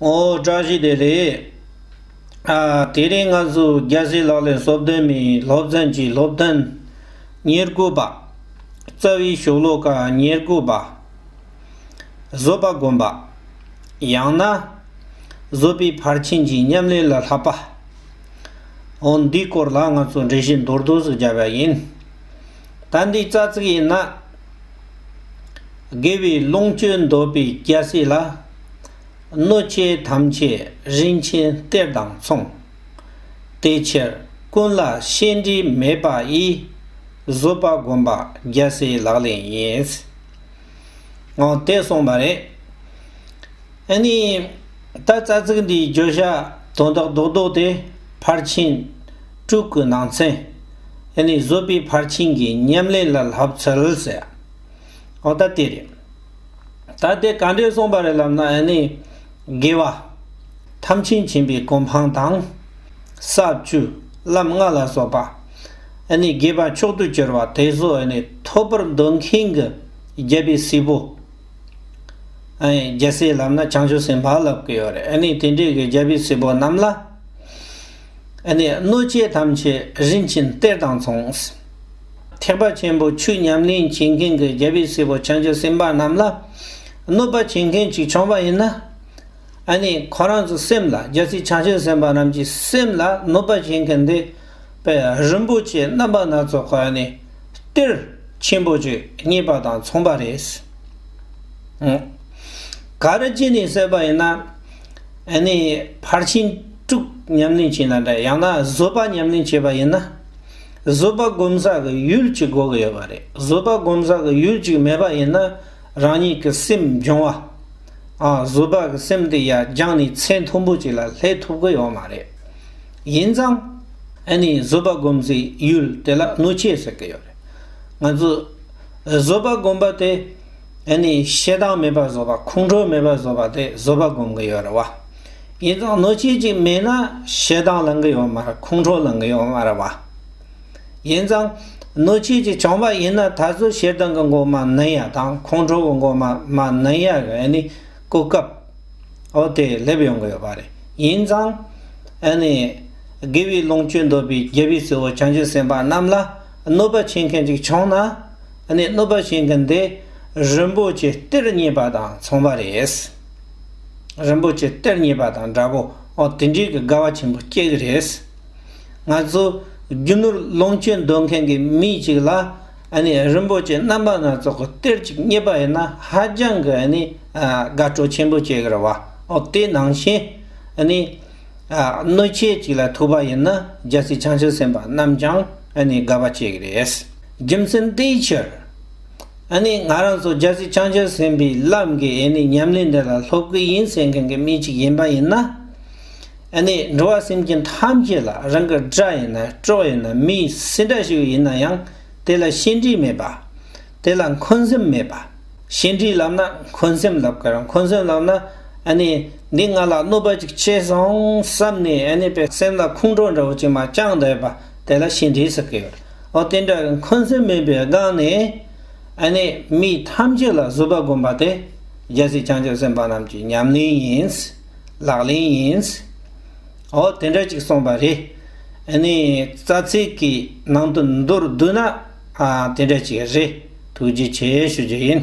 ཨོ། བཀྲ་ཤིས་བདེ་ལེགས། དེ་རིང་ང་ཚོས་རྒྱལ་སྲས་ལག་ལེན་གསོལ་སྟོན་མའི་སློབ་ཚན་གྱི་སློབ་ཐུན་ཉེར་དགུ་པ། རྩ་བའི་ཞོ་ལོ་ཀ་ཉེར་དགུ་པ། བཟོད་པ་སྒོམ་པ། ཡང་ན། བཟོད་པའི་ཕར་ཕྱིན་གྱི་ཉམས་ལེན་ལ་ལྷག་པ། ཨོ། འདིའི་སྐོར་ལ་ང་ཚོས་འགྲེལ་བཤད་མདོར་བསྡུས་སུ་སྦྱར་བ་ཡིན། ད་འདིའི་རྩ་ཚིག་ཡིན་ན། དགེ་བའི་ལོངས་སྤྱོད་འདོད་པའི་སྐྱ་སེར་ལ། གནོད་བྱེད་ཐམས་ཅད་རིན་ཆེན་གཏེར་དང་མཚུངས། དེ་ཕྱིར་ཀུན་ལ་ཤེས་འདྲིས་མེད་པ་ཡིས། བཟོད་པ་སྒོམ་པ་སྐྱ་སེར་ལག་ལེན་ཡིན། འོ་དེ་གསུངས་པ་རེད། ཨེ་ནས། ད་རྩ་ཚིག་འདིའི་བརྗོད་བྱ་དོན་དག་རྡོག་རྡོག་དེ་ཕར་ཕྱིན། དྲུག་གི་ནང་ཚན། དེ་ནི་བཟོད་པའི་ཕར་ཕྱིན་གྱི་ཉམས་ལེན་ལ་ལྷབ་ཚུལ་ཟེར། འོ་ད་དེ་རེད། ད་དེ་ག་འདྲས་གསུངས་པ་རེད་ལབ་ན་ཨེ་ནི། དགེ་བ། ཐམས་ཅད་མཁྱེན་པའི་གོ་འཕང་དང། ས་བཅུ། ལམ་ལྔ་ལ་སོགས་པ། ཨེ་ནི་དགེ་བ་མཆོག་ཏུ་གྱུར་བ་དེ་གཟོད་ཨེ་ནི་ཐོབ་པར་འདོད་མཁན་གྱི་རྒྱལ་པའི་སྲས་པོ། ཨེ་ནི་རྒྱལ་སྲས་ལབ་ན་བྱང་ཆུབ་སེམས་དཔའ་ལབ་ཀྱི་ཡོད་རེད་ཨེ་ནི་དེ་འདྲས་ཀྱི་རྒྱལ་པོའི་སྲས་པོ་རྣམས་ལ། ཨེ་ནས་གནོད་བྱེད་ཐམས་ཅད་རིན་ཆེན་གཏེར་དང་མཚུངས། ཐེག་པ་ཆེན་པོ་ཆོས་ཉམས་ལེན་བྱེད་མཁན་གྱི་རྒྱལ་བའི་སྲས་པོ་བྱང་ཆུབ་སེམས་དཔའ་རྣམས་ལ་གནོད་པ་བྱེད་མཁན་གཅིག་བྱུང་བ་ཡིན་ན། ཨེ་ནས་ཁོ་རང་ཚོའི་སེམས་ལ་རྒྱལ་སྲས་བྱང་ཆུབ་སེམས་དཔའ་རྣམས་ཀྱི་སེམས་ལ་གནོད་པ་བྱེད་མཁན་འདི་དཔལ་རིན་པོ་ཆེ་རྣམ་པ་སྣ་ཚོགས་ཀྱི་ཨེ་ནས་གཏེར་ཆེན་པོ་ཆོས་རྙེད་པ་དང་མཚུངས་པ་རེད། ག་རེ་བྱས་ནས་བསད་པ་ཡིན་ན། ཨེ་ནས་ཕར་ཕྱིན། དཀྲུག་ཉམས་ལེན་བྱེད་ན་འདྲ་ཡང་ན་བཟོད་པ་ཉམས་ལེན་བྱེད་པ་ཡིན་ན། བཟོད་པ་སྒོམ་ས་གི་ཡུལ་གཅིག་དགོས་ཀྱི་ཡོད་པ་རེད་བཟོད་པ་སྒོམ་ས་གི་ཡུལ་གཅིག་མེད་པ་ཡིན་ན་རང་ཉིད་ཀྱི་སེམས་འབྱུང་བ། བཟོད་པ་གི་སེམས་དེ་ཡ་སྦྱངས་ནས་ཚད་མཐོན་པོ་ཅིག་ལ་སླེབས་ཐུབ་ཀྱི་ཡོད་མ་རེད། ཡིན་ཙང། ཨ་ནི་བཟོད་པ་སྒོམ་སའི་ཡུལ་དེ་ལ་གནོད་བྱེད་ཟེར་གྱི་ཡོད་རེད། ང་ཚོས་བཟོད་པ་སྒོམ་པ་དེ། དེ་ནི་ཤེད་དྭངས་མེད་པར་བཟོ་བ་ཁོང་ཁྲོ་མེད་པར་བཟོ་བ་དེ་བཟོ་བ་སྒོམ་གི་ཡོད་རེད་བ། ཡིན་ཙང་གནོད་བྱེད་ཅིག་མེད་ན་ཤེད་དྭངས་ལང་གི་ཡོད་མ་རེད་ཁོང་ཁྲོ་ལང་གི་ཡོད་མ་རེད་བ། ཡིན་ཙང་གནོད་བྱེད་ཅིག་བྱུང་བ་ཡིན་ན་ད་གཟོད་ཤེད་དྭངས་གི་འགོ་མ་གནོན་ཡ་དང་ཁོང་ཁྲོ་གི་འགོ་མ་མ་གནོན་ཡ་རེད་ཨ་ནི་གོ་སྐབས་འོ་དེ་སླེབས་ཡོང་གི་ཡོད་པ་རེད་ཡིན་ཙང། ཨ་ནི། དགེ་བའི་ལོངས་སྤྱོད་འདོད་པའི་རྒྱལ་བའི་སྲས་པོ་བྱང་ཆུབ་སེམས་དཔའ་རྣམས་ལ་གནོད་པ་བྱེད་མཁན་ཅིག་བྱུང་ན། ནས་གནོད་པ་བྱེད་མཁན་དེ་རིན་པོ་ཆེ་སྟེར་རྙེད་པ་དང་མཚུངས་པ་རེད། རིན་པོ་ཆེ་སྟེར་རྙེད་པ་དང་འདྲ་པོ་དེ་འདྲའི་གི་དགའ་བ་ཆེན་པོ་སྐྱེ་གི་རེད། ང་ཚོ་རྒྱུ་ནོར་ལོངས་སྤྱོད་འདོད་མཁན་གི་མི་གཅིག་ལ་ནས་རིན་པོ་ཆེ་རྣམ་པ་སྣ་ཚོགས་གི་སྟེར་ཅིག་རྙེད་པ་ཡིན་ན་ཧ་ཅང་གི་ནས་དགའ་སྤྲོ་ཆེན་པོ་སྐྱེ་གི་རེད་བ། དེ་ནང་བཞིན་ནས་གནོད་བྱེད་ཅིག་ལ་ཐུག་པ་ཡིན་ན་རྒྱལ་སྲིད་བྱང་ཆུབ་སེམས་དཔའ་རྣམས་ཀྱང། ཨ་ནི་དགའ་བ་སྐྱེ་གི་རེད། རྒྱུ་མཚན་དེའི་ཕྱིར། ཨ་ནི་ང་རང་ཚོ་རྒྱ་ཆེ་བྱང་ཆེར་ཟིན་པའི་ལམ་གྱི་ཨེ་ནི་ཉམས་ལེན་འདི་ལ་སློབ་གི་ཡིན་ཟེར་མཁན་གྱི་མི་གཅིག་ཡིན་པ་ཡིན་ན། ཨ་ནི་འགྲོ་བ་སེམས་ཅན་ཐམས་ཅད་ལ་རང་གི་དགྲ་ཡིན་ན་གྲོགས་ཡིན་ན་མི་སྲིད་འདྲ་ཞིག་ཡིན་ན་ཡང་དེ་ལ་ཤེས་འདྲིས་མེད་པ། དེ་ལ་འཁོན་སེམས་མེད་པ། ཤེས་འདྲིས་ལབ་ན་འཁོན་སེམས་ལབ་གི་རང་འཁོན་སེམས་ལབ་ན་ཨ་ནི་འདི་ང་ལ་གནོད་པ་ཅིག་བྱས་སོང་བསམ་ནས་ཨ་ནི་པའི་སེམས་ལ་ཁུངས་དྲོ་འདྲ་བོ་ཅིག་མ་བཅངས་བསྡད་པ། དེ་ལ་ཤིང་དྲི་ཟེར་གྱི། ཨོ་རྟེན་འདྲ་བའི་འཁོན་སེམས་མེད་པའི་སྒང་ནས། ཨ་ནི་མི་ཐམས་ཅད་ལ་བཟོད་པ་སྒོམ་པ་སྟེ། རྒྱལ་སྲིད་བྱང་ཆུབ་སེམས་དཔའ་རྣམས་ཀྱི་ཉམས་ལེན་ཡིན། ལག་ལེན་ཡིན། ཨོ་དེ་འདྲ་ཅིག་གསུངས་པ་རེད། ཨ་ནི་རྩ་ཚིག་གི་ནང་དུ་མདོར་བསྡུས་ན། དེ་འདྲ་ཅིག་རེད། ཐུགས་རྗེ་ཆེ་ཞུ་རྒྱུ་ཡིན།